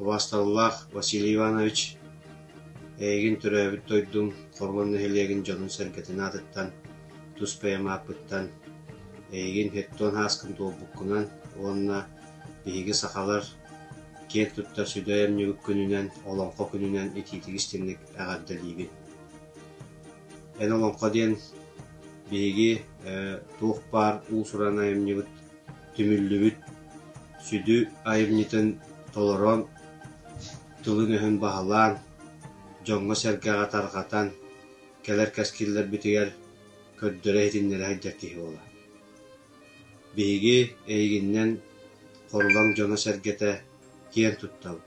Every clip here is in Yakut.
Убаасталлаах Василий Иванович, эйигин төрөөбүт дойдуҥ Хормон нэһилиэгин дьонун-сэргэтин аатыттан, тус бэйэм ааппыттан, эйигин хеттон һааскын туолбуккунан уонна биһиги, сахалар, киэн туттар сүдэй амньыбыт күнүнэн, Олоҥхо күнүнэн итиитик истиҥник эҕэрдэлиибин. Эн олоҥхо диэн биһиги туох баар уус-уран айымньыбыт түмүллүбүт сүдү айымньытын толорон, тылын-өһүн баһылаан, дьоҥҥо-сэргэҕэ тарҕатан кэлэр кэскиллэрбитигэр көрдөрө-иһитиннэрэ сылдьар киһи буола. Биһиги эйигиннэн Хорулаҥ дьоно-сэргэтэ киэн туттабыт.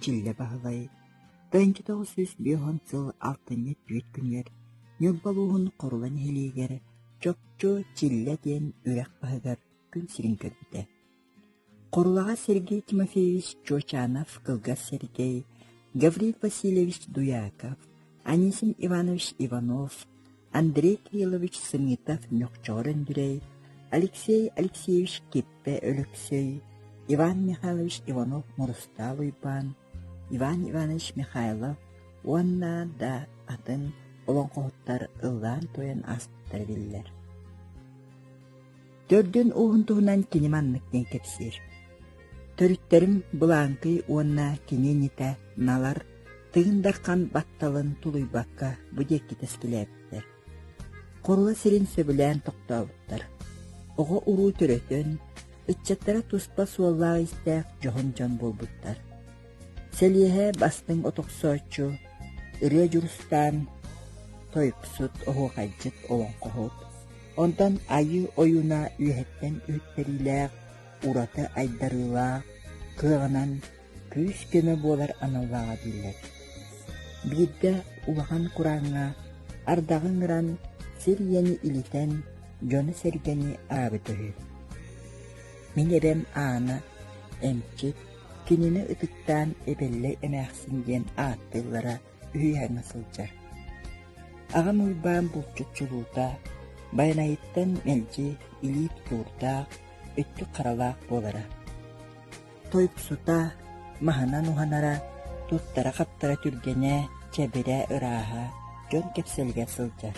Чиилэ Баһылай тыанча тоҕус сүүс биэс уон сыл алтынньыт бүт күнүгэр Ньурба улууһун Хорула нэһилиэгэр Чопчу Чиллэ диэн үрэх баһыгар күн сирин көрбүтэ. Хорулаҕа Сергей Тимофеевич Чочанов, кылгас Сергей, Гавриил Васильевич Дуяков, Анисим Иванович Иванов, Андрей Кириллович Санитов Ньохчоҕор Өндүрэй, Алексей Алексеевич Киппэ Өлөксөй, Иван Михайлович Иванов-Мурустаал Уйбаан, Иван Иванович Михайлов уонна да атын олоҥхоһуттар ыллаан-туойан ааспыттара биллэр Төрдүн ууһун туһунан кини маннык диэн кэпсиир. Төрүттэрим Былааҥкый уонна киниэньитэ Налар Тыгын Дархан батталын тулуйбакка бу диэки тэскилээбиттэр. Хорула сирин сөбүлээн тохтообуттар. Оҕо-уруу төрөтөн, ыччаттара туспа суоллаах-истээх дьоһун дьон буолбуттар. Сэлиэһэ бастыҥ от охсооччу, ырыа Дьурустаан, тойуксут, оһуохайдьыт, олоҥхоһут, онтон Айыы ойууна үөһэттэн үһүттэриилээх, ураты айдарыылаах, кыаҕынан күүс-көмө буолар аналлааҕа биллэр. Биирдэ улахан курааҥҥа ардаҕы ыҥыран, сир ийэни илитэн, дьону-сэргэни аабыта үһү. Мин эбэм Аана, эмчит, Кинини ытыктаан Эбэллэй эмээхсин диэн ааттыыллара үһүйэҥҥэ сылдьар. Аҕам Уйбаан булчут чулуута, Байанайыттан мэлдьи илиит куурдаах, өттүк харалаах буолара. Тойуксута, маһынан уһанара, туттара-хаптара түргэнэ, чэбирэ, ырааһа дьон кэпсэлигэр сылдьар.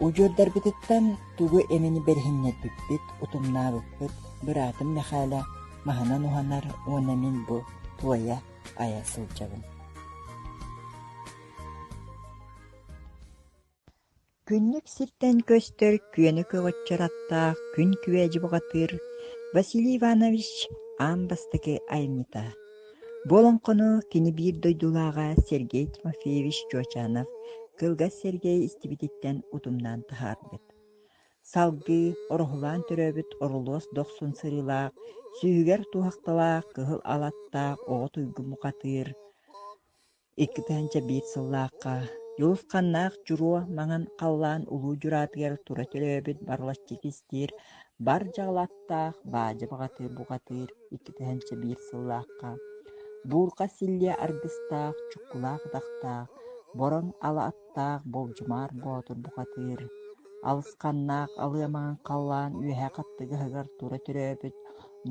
Удьуордарбытыттан тугу эмини бэриһиннэрбиппит, утумнаабыппыт, быраатым Мэхээлэ маһынан уһанар уонна мин бу туойа айа сылдьабын Күннүк сиртэн көстөр күөнү көҕүччэр аттаах күн күвэдьи бухатыыр Василий Иванович аан бастакы айымньыта Бу олоҥхону кини биир дойдулааҕа Сергей Тимофеевич Чуочанов кылгас сэргэй истибититтэн утумнаан таһаарбыт. Салгыы ороһулаан төрөөбүт орулуос дохсун сырыылаах, сүүһүгэр туһахталаах кыһыл алаттаах оҕо туйгу мухатыыр, Иккитээҥчэ биир сыллаахха Дьулус-ханнаах Дьуруо маҥан халлаан улуу дьураатыгар тура төлөөбүт барылаччыкистиир бар дьаалаттаах баадьы баҕатыыр-буҕатыыр иккитээҥчэ биир сыллаахха буурҕа силлиэ аргыстаах чуккулаах атахтаах бороҥ ала таах Болдьумаар Боотур бухатыыр, алысханнаах алыамаҕын халлаан үөһэ хаттыгаһыгар тура төрөөбүт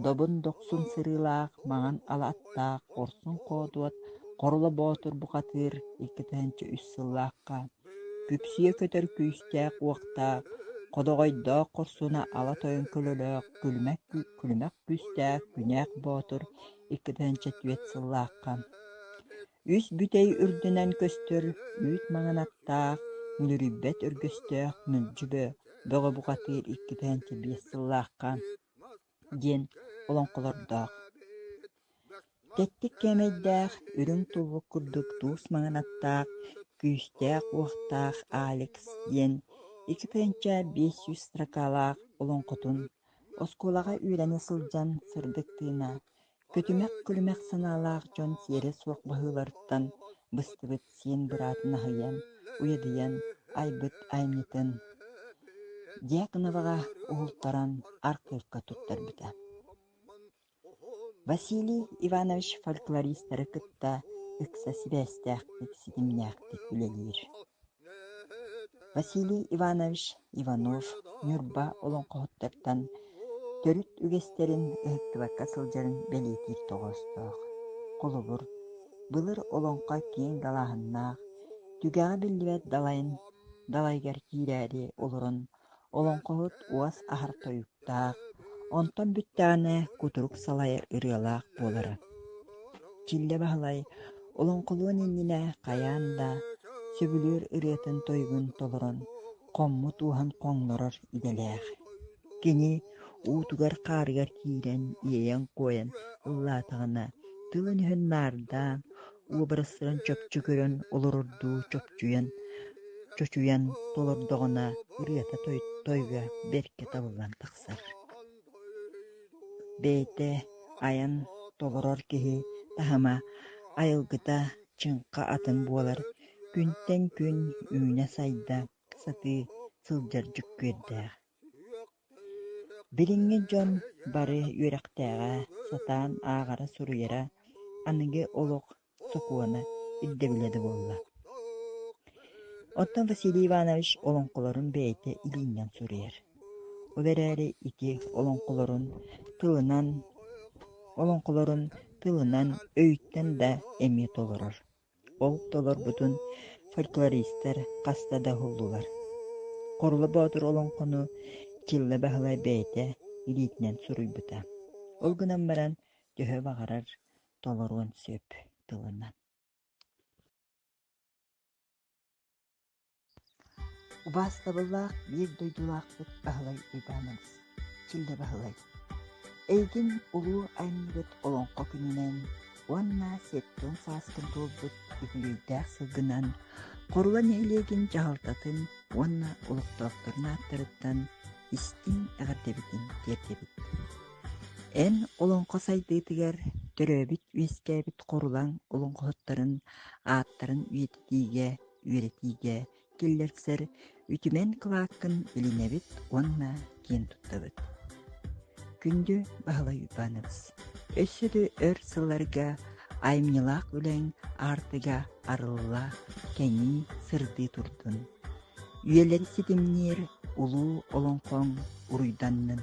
добун дохсун сырыылаах маҥан ала аттаах хорсун хоодуот Хорула Боотур бухатыыр иккитинчи үс сыллаахха күпсүйэ көтөр күүстээх-уохтаах, ходоҕойдоох хорсуна ала тойон көлөлөөх күлүмэх күүстээх күнээх боотур иккитинчи түөрт сыллаахха Үс бүтэй үрдүнэн көстөр үүт маҥынаттаах, мүлүрүйбэт өргөстөөх мүлдьүбэ бөҕө бухатыыр иккитээнчэ биэс сыллаахха диэн олоҥхолордоох. Тэттик кээмэйдээх, үрүҥ туллук курдук туус маҥынаттаах, күүстээх-уохтаах Алекс диэн иккитээнчэ биэс сүүс строкалаах олоҥхотун оскуолаҕа үөрэнэ сылдьан сырдыктыына, Күтүмэх-күлүмэх санаалаах дьон сиэрэ суох быһыылартан быстыбыт сиэн быраатын аһыйан, уйадыйан, айбыт айанньытын Дьяконоваҕа уһултаран аргыакка туттарбыта. Василий Иванович фольклористары кытта ыкса сибээстээхтик, ситимнээхтик үлэлиир Василий Иванович Иванов Ньурба олоҥхоһуттартан төрүт үгэстэрин ыһыктыбакка сылдьарын бэлиэтиир тоҕоостоох. Холобур, былыр олоҥхо киэҥ далааһыннаах, түгэҕэ биллибэт далайын далайыгар киирээри олорон Олоҥхоһут уос аһар тойуктаах, онтон бүттэҕинэ кутурук салайар ырыалаах буолара. Чиллэ Баһылай олоҥхолуон иннинэ хайаан да сөбүлүүр ырыатын-тойугун толорон, хоммут уоһун хоҥнорор идэлээх. Кини уутугар-хаарыгар киирэн, иэйэн-куойан ыллаатаҕына, тылын-өһүн наардаан, уобарастарын чопчу көрөн олорордуу чопчуйан, чочуйан толордоҕуна ырыата тойго бэркэ табыллан тахсар. Бэйэтэ айан толорор киһи таһыма, айылгыта чыҥха атын буолар, күнтэн күн үүнэ-сайда сатыы сылдьар дьүккүөрдээх. Билиҥҥи дьон бары үөрэхтээҕэ, сатаан ааҕара-суруйара аныгы олох сокуона, ирдэбилэ да буолла. Оттон Василий Иванович олоҥхолорун бэйэтэ илииннэн суруйар. Ол эрээри ити олоҥхолорун тылынан, олоҥхолорун тылынан өйтөн да эмиэ толорор. Ол толорбутун фольклористар хаста да уһуллулар. Хорло Боотур олоҥхону Чilla Баһылай бэйэтэ илиитинэн суруйбута. Ол гынан баран төһө баҕарар толоруон сөп тылынан. Убаастабыллаах биир дойдулаахпыт Баһылай Уйбаанабыс, Чиллэ Баһылай, эйигин улуу айымньыгыт Олоҥхо күнүнэн уонна сэттион сааскын туолбут үбүлүөйдээх сылгынан Хорула нэһилиэгин дьаһалтатын уонна олохтоохторун ааттарыттан истиҥ эҕэрдэбитин тиэрдэбит. Эн олоҥхо сайдыытыгар төрөөбүт-үөскээбит Хорулаҥ олоҥхоһуттарын ааттарын үйэтитиигэ үөрэтиигэ киллэрсэр үтүмэн кылааккын билинэбит уонна киэн туттабыт. Күндү Баһылай Иванович, өссө да өр сылларга аймньылаах үлэҥ артыга арылла, кэҥии сырдыы турдун. Үйэлэр ситимниир улуу олоҥхоҥ уруйданнын.